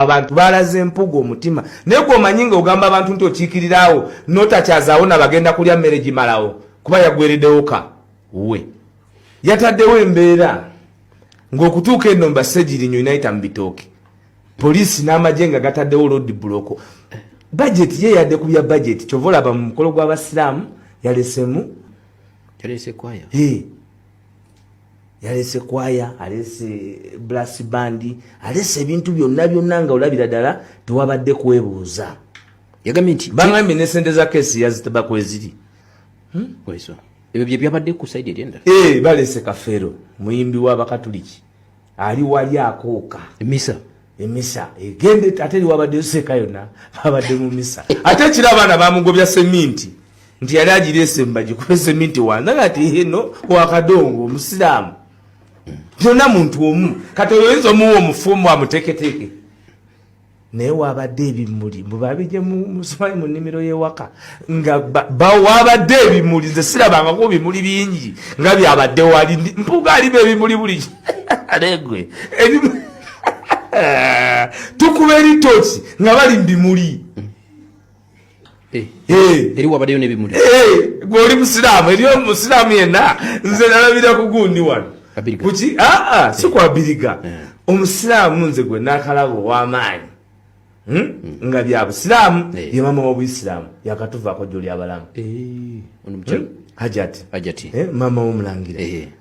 abantu balaze empuga omutima naye gwe omanyi nga ogamba abantu nti okiikiriraawo notakyazaawo nabagenda kulya mmere gimalawo kuba yagweredewoka we yataddewo embeera ng'okutuuka eno mbasegirinnyo inayita mu bitooke poliisi n'amagye nga gataddewo lodi buloko bajeti ye yadde ku bya bajeti kyova olaba mu mukolo gw'abasiraamu yalesemu yalese kwaya yalese kwaya alese blas bandi alese ebintu byonna byonna nga olabira ddala tewabadde kwebuuza yagambye nti bagambye ne sente za kesi yazitaba kweziri hmm? ebyo bye byabadde ku saidi eryendala eh, balese kafeero muyimbi w'abakatuliki ali wali akooka emisa emisa egende ate liwabadde seka yona abadde mu misa ate kira abaana bamugobya seminti nti yali agirese mbaji kuba seminti wanza ngati hino wakadongo omusiraamu yona muntu omu kati oyoyinza omuwa omufumu amuteketeke naye wabadde ebimuli mbu babije musumali mu nnimiro y'ewaka nga wabadde ebimuli nze sirabangako bimuli bingi nga byabadde wali mpuga alimu ebimuli buli alegwe tukuba eritoki nga bali mu bimuli Eh, eh. eri wabadeyo nebimuli eh, gwe oli musiraamu eri omusiraamu yenna nze nalabira kugundi wano kuki aa ah, ah, si kwabiriga omusiraamu nze gwe nakalaba owamaanyi hmm? hmm. nga bya busiraamu ye mama wobuyisiraamu yakatuvaako joli abalamu hmm? hajati mama womulangira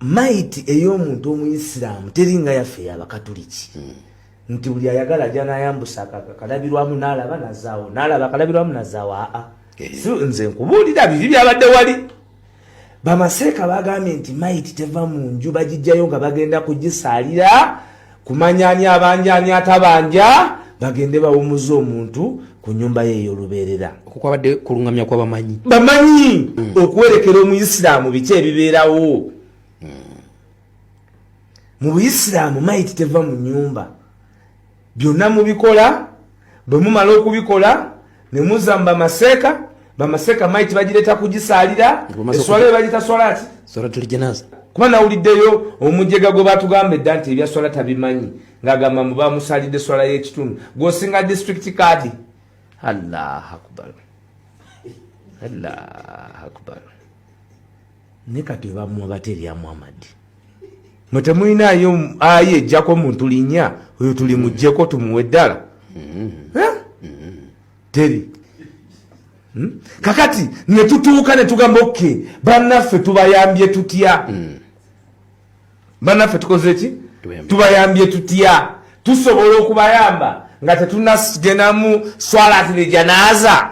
mayiti ey'omuntu omuyisiraamu teringa yaffe yabakatuliki hmm. nti buli ayagala ajja nayambusa akalabirwamu nalaba nazaawo nalaba akalabirwamu nazaawo aa eh. nze nkubuulira biri byabadde wali bamaseeka bagambye nti mayiti teva mu nju bagijjayo nga bagenda kugisaalira kumanya ani abanja ani atabanja bagende bawumuza omuntu ku nyumba ye eyolubeerera okukwabadde kulungamya kwa bamanyi bamanyi mm. okuwerekera omuyisiraamu biki ebibeerawo mm. mu buyisiraamu mayiti teva mu nyumba byonna mubikola bwe mumala okubikola ne muzza mu bamaseeka bamaseeka maiti bagireeta kugisaalira eswala eyo bagita swala ki swalatulijanaza kuba nawuliddeyo omujega gwe batugamba edda nti ebya swala tabimanyi ng'agamba mu bamusaalidde swala y'ekitundu gwosinga disitulikiti kaadi allah akbar allah akbar ne kati webamuwa bate lya muhammadi mwe temulinayo ayi ejjako muntu linya oyo tuli mujjeko tumuwe ddala teri hmm? kakati netutuuka netugamba oke bannaffe tubayambye tutya mm. banaffe tukoze ki tubayambye tutya tusobola okubayamba nga tetunagenamu swalat lejanaza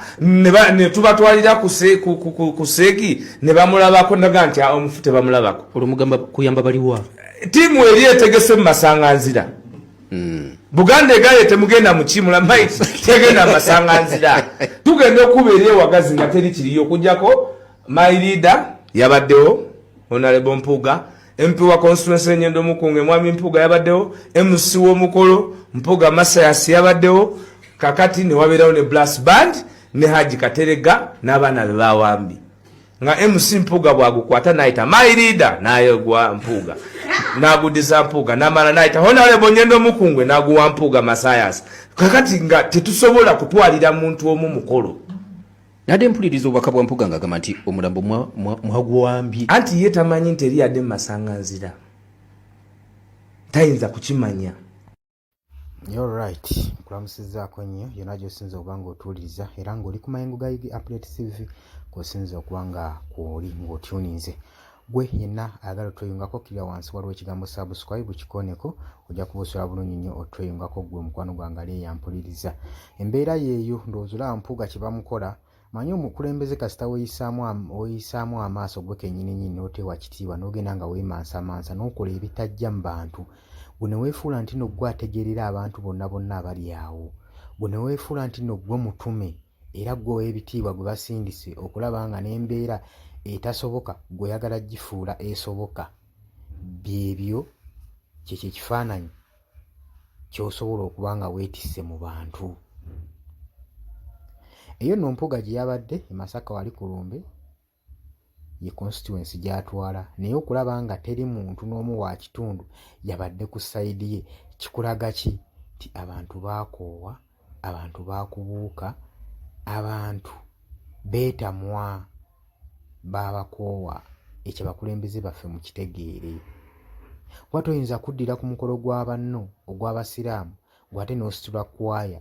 netubatwalira ku seegi nebamulabako naga nti ah, omufu tebamulabako olumugamba kuyamba baliwa tiimu eri etegese mu masanganzira hmm. buganda egaye temugenda mukimula mai tegenda masanganzira tugenda okubeera ewagazi nga teri kiriyo okujjako my leader yabaddewo Honorable Mpuga MP wa constituency Nyendo Mukunge mwami Mpuga yabaddewo MC w'omukolo Mpuga Masayas yabaddewo kakati ne wabeerawo ne Blast Band ne Haji Katerega n'abaana be bawambi nga MC Mpuga bwagukwata naita my leader naye gwa Mpuga nagudiza Mpuga namala naita Honorable Nyendo Mukunge naguwa Mpuga Masayas kakati nga tetusobola kutwalira muntu omu mukolo Nade mpuliriza obubaka bwa Mpuga ng'agamba nti omulambo mwagwambye. Anti ye tamanyi nti eri yadde mu masanganzira. Tayinza kukimanya. You're right. Nkulamusizzaako nnyo yonna gy'osinza okuba ng'otuwuliriza era ng'oli ku mayengo ga Ig Update TV kw'osinza okuba nga kw'oli ng'otyuninze. gwe yenna ayagala otweyungako kira wansi waliwo ekigambo subscribe kikoneko ojja kuba osobola bulungi nnyo otweyungako gwe omukwano gwange ali eyampuliriza embeera yeeyo ndowooza olaba mpuuga kye bamukola manyi omukulembeze kasita weyisaamu amaaso gwe kenyininyini n'oteewa kitiibwa n'ogenda nga weemansamansa n'okola ebitajja mu bantu gwe ne weefuula nti no gwe ategeerera abantu bonna bonna abali awo gwe ne weefuula nti no gwe mutume era gwe ow'ebitiibwa gwe basindise okulaba nga n'embeera etasoboka gweoyagala gifuula esoboka byebyo kyekyo ekifaananyi kyosobola okuba nga weetisse mu bantu eyo no mpuga gye yabadde emasaka wali ku lumbe ye constituency gy'atwala naye okulaba nga teri muntu n'omu wa kitundu yabadde ku sayidi ye kikulaga ki nti abantu baakoowa abantu baakubuuka abantu beetamwa baabakoowa ekyo abakulembeze baffe mu kitegeere kuba toyinza kuddira ku mukolo gwa banno ogw'abasiraamu gw'ate n'ositula kwaya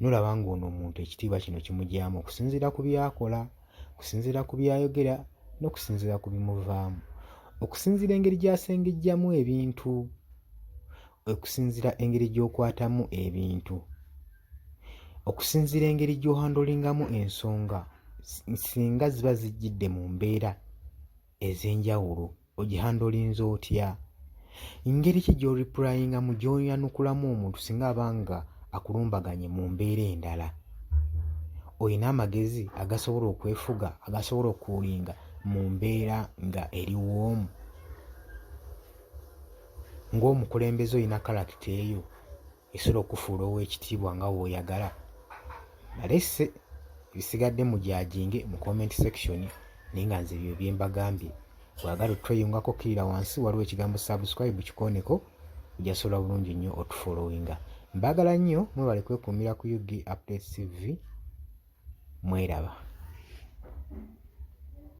nolaba ng'ono omuntu ekitiibwa kino kimugyamu okusinziira ku byakola okusinziira ku byayogera n'okusinziira ku bimuvaamu okusinziira engeri gy'asengejjamu ebintu okusinziira engeri gy'okwatamu ebintu okusinziira engeri gy'ohandolingamu ensonga singa ziba zijjidde mu mbeera ez'enjawulo ogihandolinza otya ngeri ki gy'oripurayingamu gy'oyanukulamu omuntu singa aba nga akulumbaganye mu mbeera endala olina amagezi agasobola okwefuga agasobola okuulinga mu mbeera nga eriwoomu ng'omukulembeze olina kalakita eyo esobola okufuula ow'ekitiibwa nga w'oyagala balese ebisigadde mu gyajinge mu comment section naye nga nze ebyo bye mbagambye bwagala otweyungako kkirira wansi waliwo ekigambo subscribe kikooneko ojasobola bulungi nnyo otufolowinga mbagala nnyo mwebale kwekuumira ku ug update tv mweraba